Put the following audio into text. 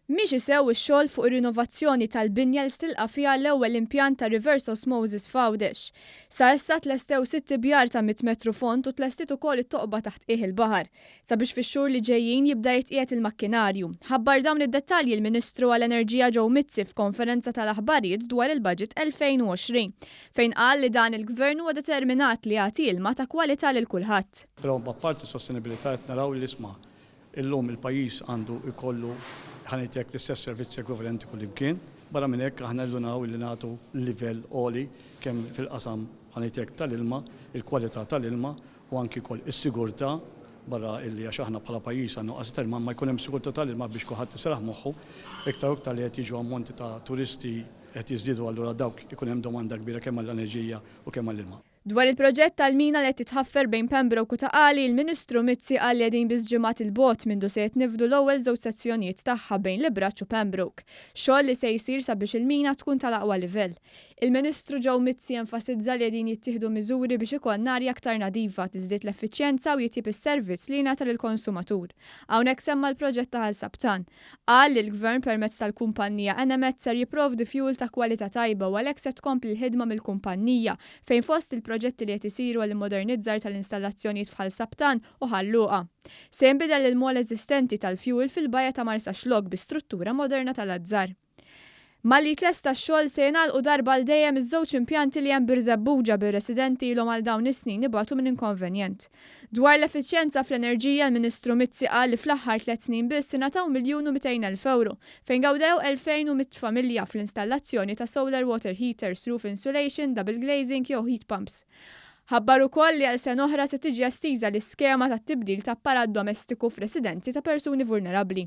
Miexi sew ix-xogħol fuq ir-rinovazzjoni tal-binja li se tilqa' fiha l-ewwel impjant ta' reverse osmosis f'Għawdex. Sa issa tlestew sitt ibjar ta' mitt metru fond u tlestiet ukoll it-toqba taħt qiegħ il-baħar, sabiex fix-xhur li ġejjin jibda jitqiegħed il-makkinarju. Ħabbar dawn id-dettalji l-Ministru għall-Enerġija Joe Mizzi f'konferenza tal-aħbarijiet dwar il-Baġit 2020. fejn qal li dan il-Gvern huwa determinat li jagħti ilma ta' kwalità lil kulħadd. Però apparti s-sostenibilità qed naraw li l-isma' llum il-pajjiż għandu jkollu ħa ngħid hekk l-istess servizzi ekwivalenti kullimkien. Barra minn hekk aħna ndunaw illi nagħtu livell għoli kemm fil-qasam ħa ngħid hekk tal-ilma, il-kwalità tal-ilma u anki wkoll is-sigurtà barra illi għax aħna bħala pajjiż għal nuqqasijiet tal-ilma imma jkun hemm sigurtà tal-ilma biex kulħadd iseraħ moħħu iktar u iktar li qed jiġu ammonti ta' turisti Qed jiżdiedu allura dawk ikun hemm domanda kbira kemm għall-enerġija u kemm għall-ilma. Dwar il-proġett tal-mina li qed titħaffer bejn Pembroke u Ta' Qali, il-Ministru Mizzi qal li qegħdin biss ġimgħat 'il bogħod mindu se jitniffdu l-ewwel żewġ sezzjonijiet tagħha bejn l-Ibraċċ u Pembroke, xogħol li se jsir sabiex il-mina tkun tal-aqwa livell. Il-Ministru Joe Mizzi enfasizza li qegħdin jittieħdu miżuri biex ikollna arja aktar nadifa, tiżdied l-effiċjenza u jitjieb is-servizz li jingħata lill-konsumatur. Hawnhekk semma l-proġett ta' Ħal Sabtan. Qal li l-Gvern permezz tal-kumpannija Enemed ser jipprovdi fjuwil ta' kwalità tajba u għalhekk se tkompli l-ħidma mill-kumpannija, fejn fost il-proġetti li qed isiru għall-immodernizzar tal-installazzjonijiet f'Ħal Sabtan u Ħal Luqa. Se jinbidel il-mall eżistenti tal-fjuwil fil-bajja ta' Marsaxlokk bi struttura moderna tal-azzar. Malli jitlesta x-xogħol, se jingħalqu darba għal dejjem iż-żewġ impjanti li hemm Birżebbuġa bir-residenti ilhom għal dawn is-snin ibatu minn inkonvenjent. Dwar l-effiċjenza fl-enerġija l-Ministru Mizzi qal li fl-aħħar tliet snin biss ingħataw miljun u mitejn elf ewro fejn gawdew 2,100 familja fl-installazzjoni ta' solar water heaters, roof insulation, double glazing jew heat pumps. Ħabbar ukoll li għal sena oħra se tiġi estiża l-iskema tat-tibdil ta' apparat domestiku f'residenzi ta' persuni vulnerabbli.